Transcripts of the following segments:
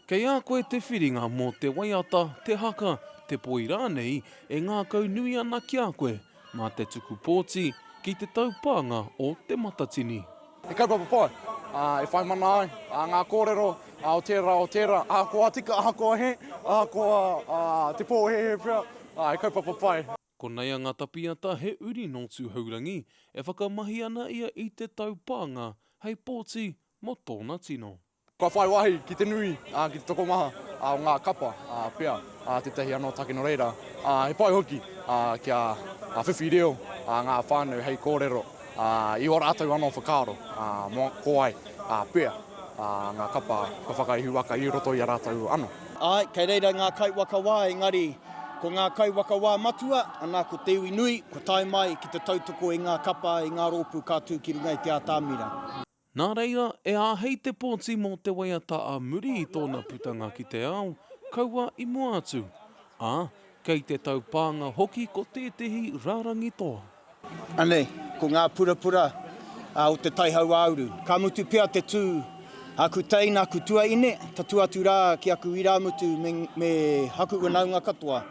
Kei a koe te whiringa mō te waiata, te haka, te poi rānei e ngākaunui ana ki a koe mā te tuku pōti ki te taupānga o Te Matatini. He kaupapa pai e whai mana ai ngā kōrero o tērā, o tērā, ahakoa tika, ahakoa hē, ahakoa te pōhēhē pea, he kaupapa pai. Ko Naianga Tapiata he uri nō Tūhourangi e whakamahi ana ia i te taupānga hei pōti mō tōna tino. Kua whai wāhi ki te nui, ki te tokomaha o ngā kapa pea, tētahi anō take nō reira, he pai hoki kia whiwhi reo ngā whānau hei kōrero i ō rātou anō whakaaro mō ko wai pea ngā kapa kua whakaihu waka i roto i a rātou anō. Āe, kei reira ngā kaiwaka wā, engari, ko ngā kaiwaka wā matua, anā, ko te iwi nui, kua tae mai ki te tautoko i ngā kapa, i ngā rōpū ka tū ki runga i te ātamira. Nā reira, e āhei te pōti mō te waiata ā muri i tōna putanga ki te ao, kaua i mua atu, ā, kei te taupānga hoki ko tētehi rārangi toa. Anei, ko ngā purapura o te tai hauāuru. Ka mutu pea te tū, aku teina, aku tuaine, tatū atu rā ki aku irāmutu me aku whanaunga katoa.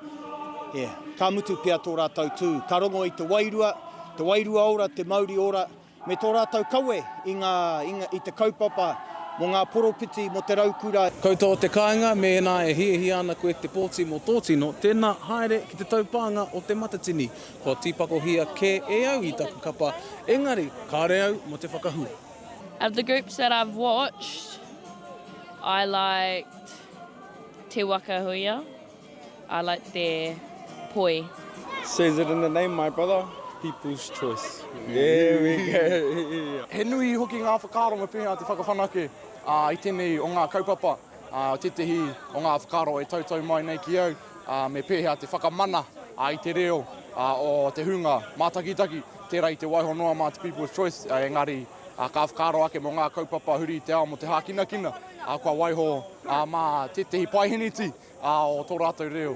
Ka mutu pea tō rātou tū. Ka rongo i te wairua, te wairua ora, te mauri ora, me tō rātou kawe i ngā, i te kaupapa mō ngā poropiti, mō te raukura. Koutou o te kāinga, mēnā e hiahia ana koe te pōti mō tō tino, tēnā haere ki te taupānga o Te Matatini, kua tīpakohia kē e au i taku kapa, engari kāre au mō te whakahua. Of the groups that I've watched, I liked Te Waka Huia. I like their poi. Says it in the name my brother, people's choice. There we go. He nui hoki ngā whakaaro me pēhea te whakawhanake i tēnei o ngā kaupapa, tētehi o ngā whakaaro e tautau mai nei ki au, me pēhea te whakamana i te reo o te hunga mātakitaki, tērā i te waiho noa mā te people's choice, engari ka whakaaro ake mō ngā kaupapa huri i te ao mō te hākinakina, kua waiho mā tētehi paeheneti. o tō rātou reo,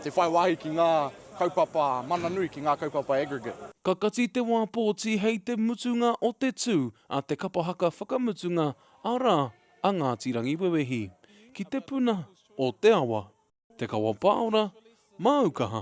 te whai wāhi ki ngā kaupapa mana nui, ki ngā kaupapa aggregate. Ka kati te wā pōti hei te mutunga o te tū a te kapa haka whakamutunga, arā, a Ngāti Rangiwewehi, ki te puna o te awa. Te Kawa Pāora, Māu Kaha.